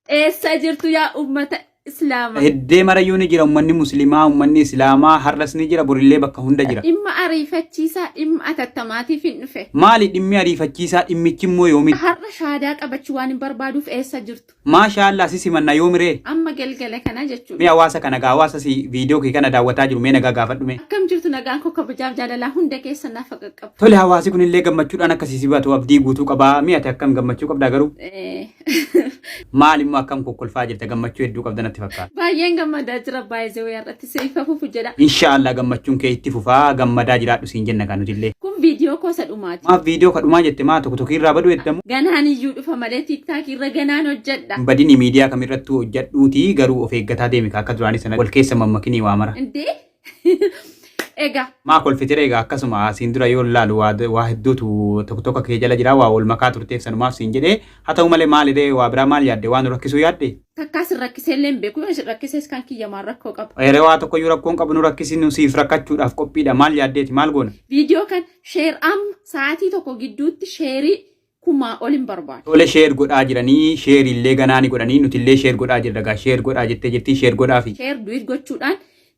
Eessa jirtu yaa ummata Islaama? Heddee marayyuu ni jira ummanni muslimaa ummanni islaamaa har'as ni jira borillee bakka hunda jira. Dhimma ariifachiisaa dhimma atattamaatiifin dhufe. Maali dhimmi ariifachiisaa dhimmichi immoo yoomitti? Har'a shahaadaa qabachuu waanin barbaaduuf eessa jirtu? Maashaa Allaah si simanna yoomi ree? Amma galgala kana jechuudha. Mee hawaasa kana gaa hawaasa si viidiyoo kee kana daawwataa jiru mee nagaa gaafadhu mee. Akkam jirtu nagaan koo kabajaaf jaalalaa hunda keessan naaf haa qaqqabu. Tole hawaasi kunillee gammachuudhaan akka si sibatu abdii guutuu qaba mee ati akkam gammachuu qabdaa garuu? Maal immoo akkam kokkolfaa jirta gammachuu hedduu qabda natti fakkaata. Baay'een gammadaa jira baay'ee wayii har'atti siif hafuufu jedha. Inshaallah gammachuun kee itti fufaa gammadaa jiraadhu siin jenna kaa nutillee. Kun viidiyoo koo isa dhumaati. Maaf viidiyoo ka dhumaa jette maa tokko tokko irraa baduu eddamu. Ganaan iyyuu dhufa malee tiiktaakii irra ganaan hojjedha. Hin badini miidiyaa kamirrattuu hojjedhuutii garuu of eeggataa deemi kaa akka duraanii sana wal keessa hin mammakinii waa mara. Indee Egaa Maa kolfitire egaa akkasuma siin dura yoo laalu waa waa hedduutu tokko tokko kee jala jira waa wal makaa turteef sanumaaf siin jedhee haa ta'u malee maaliree waa biraa maal yaadde waan nu rakkisuu yaadde takkaa sin rakkisee illee hin beeku yoo sin rakkisees kan kiyya maal rakkoo qaba. Eeree waa tokko iyyuu rakkoon qabu nu rakkisi nu siif rakkachuudhaaf qophiidha maal yaaddeeti maal goona Viidiyoo kan sheer amma sa'aatii tokko gidduutti sheerii kumaa ol hin barbaadu. Tole share godhaa jiranii share illee ganaa ni godhanii nuti illee share godhaa jirra gaa share godhaa jettee jirtii share godhaafi. Share duit gochuudhaan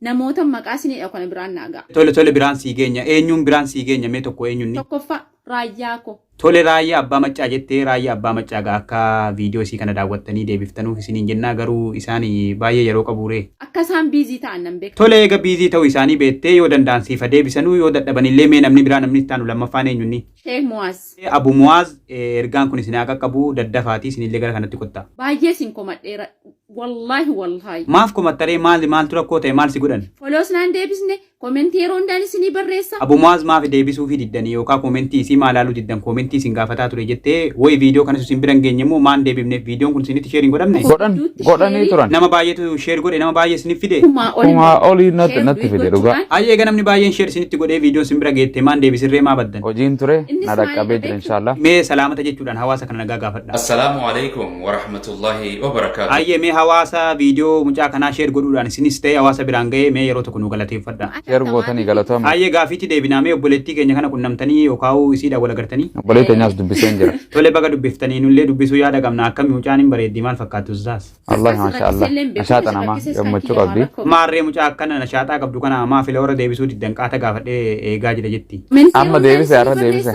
namoota maqaa isinii dhahu kana biraan naa ga'a. Tole tole biraan sii geenya eenyuun biraan sii geenya mee tokko eenyunni. Tokkoffaa Raayyaa ko. Tole Raayyaa Abbaa Maccaa jettee Raayyaa Abbaa Maccaa gaa akka video isii kana daawwattanii deebiftanuuf isiniin jennaa garuu isaan baay'ee yeroo qabuu ree. Akka isaan busy ta'an nan beeka. Tole eega busy ta'uu isaanii beettee yoo danda'an siif ha deebisanuu yoo dadhaban illee mee namni biraa namni itti aanu lammaffaan eenyunni. Sheikh Muaz. Abu Muaz ergaan kun isin haa qaqqabu daddafaatii isinillee gara kanatti kottaa. Baay'ee isin komadheera wallaahi wallaahi. Maaf komattaree maali maaltu rakkoo ta'e maal si godhan? Follows naan deebisne comment yeroo hundaan isinii barreessa. Abu Muaz maafi deebisuufii diddanii yookaa comment isii maa laaluu diddan comment isin gaafataa ture jettee woyi video kanas isin bira hin geenye moo maa hin deebifneef videon kun isinitti share hin godhamne? Godhan godhanii turan. Nama baay'eetu sheer godhe nama baay'ee isiniif fide. Kumaa oli Kumaa immoo olii natti share natti fide dhugaa. gochuudhaan Ayyee egaa namni baay'een sheer isinitti godhee viidiyoon isin bira geette maan deebisirree maa baddan. Hojiin ture Innis na dhaqqabee maalidha jira beektu? inshaallah. Mee salaamata jechuudhaan hawaasa kana nagaa gaafadha. Assalaamu alaikum wa rahmatullahi wa barakaatuh. Ayyee mee hawaasa viidiyoo mucaa kanaa sheer godhuudhaan isinis ta'e hawaasa biraan ga'ee mee yeroo tokko nu galateeffadha. Share gootanii galatoomaa. Haayee gaafiitti deebinaa mee obboleettii keenya kana qunnamtanii yookaa'uu isiidhaan wal agartanii? Obbolee teenyaas dubbiseen jira. Tole baga dubbiftanii nullee dubbisuu yaada qabna akkami mucaan hin bareeddi maal fakkaattu ustaas? Wallahi maasha Allah. Nashaaxa namaa gammachuu qabdi. Maarree mucaa akkana nashaaxaa qabdu kana amaa fila warra deebisuu diddan qaata gaafadhee eegaa jira jetti. Amma deebise har'a deebise.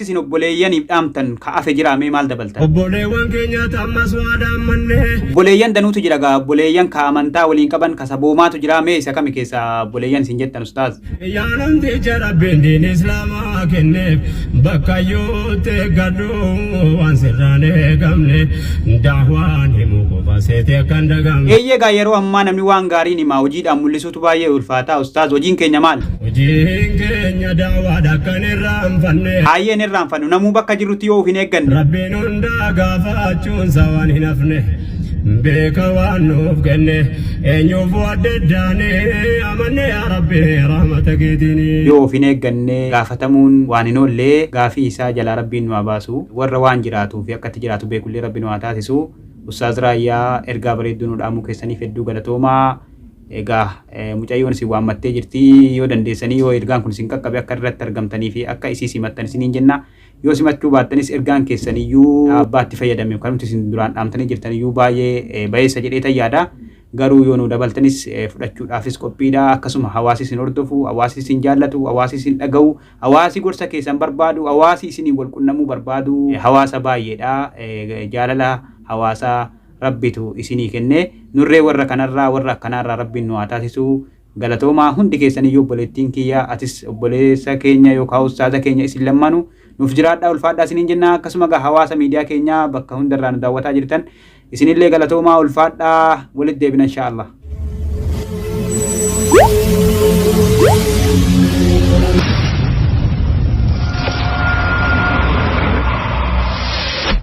isin obboleeyyaniif dhaamtan ka afe jiraa mee maal dabaltan? Obboleewwan keenyaat ammas waadaan manne. Obboleeyyan danuutu jira gaa obboleeyyan ka amantaa waliin qaban ka saboomaatu jiraa mee isa kami keessa obboleeyyan isin jettan ustaaz? Yaa namticha Rabbiin diin Islaamaa kenneef bakkayyuutti eeggadhu waan sirraan eegamne da'waan himuu qofa seete akka hin dagamne. Eeyyee gaa yeroo ammaa namni waan gaariin himaa hojiidhaan mul'isuutu tu baay'ee ulfaataa ustaaz hojiin keenya maal Hojiin keenya daawaadha kan irraanfanne. haayeen irraanfannu namuu bakka jirrutti yoo of hin eegganne Rabbiin hundaa gaafachuunsa waan hin hafne. Beeka waan nuuf kenne eenyuuf waddaddaane amanne yaa Rabbi rahmata keetiini. yoo of hin eegganne gaafatamuun waan hin oolle gaafii isaa jalaa rabbiin nu haa baasu warra waan jiraatuu fi akka itti jiraatu beekullee rabbi nu haa taasisu ustaaz raayyaa ergaa bareedduu nu dhaamuu keessaniif hedduu galatoomaa Egaa mucayyoon isin waammattee jirti. Yoo dandeessanii yoo ergaan kun isin qaqqabe akka irratti argamtanii fi akka isii simattan isiniin jenna. Yoo simachuu baattanis ergaan keessan iyyuu abbaa itti fayyadame kanumti isin duraan dhaamtanii jirtan iyyuu baay'ee bayeessa jedheetan yaada. Garuu yoo nu dabaltanis fudhachuudhaafis qophiidha. Akkasuma hawaasi isin hordofu, hawaasi isin jaallatu, hawaasi isin dhaga'u, hawaasi gorsa keessan barbaadu, hawaasi isiniin wal qunnamuu barbaadu hawaasa baay'eedha. Jaalala hawaasaa Rabbitu isinii kenne. Nurree warra kanarraa warra akkanaarraa Rabbiin nu haa taasisu. Galatoomaa hundi keessaniyyuu obboleettiin kiyya atis obboleessa keenya yookaa ustaaza keenya isin lammaanu nuuf jiraadhaa ulfaadhaa isiniin jenna akkasuma egaa hawaasa miidiyaa keenyaa bakka hundarraa nu daawwataa jirtan isinillee galatoomaa ulfaadhaa walit deebina inshaa Allah.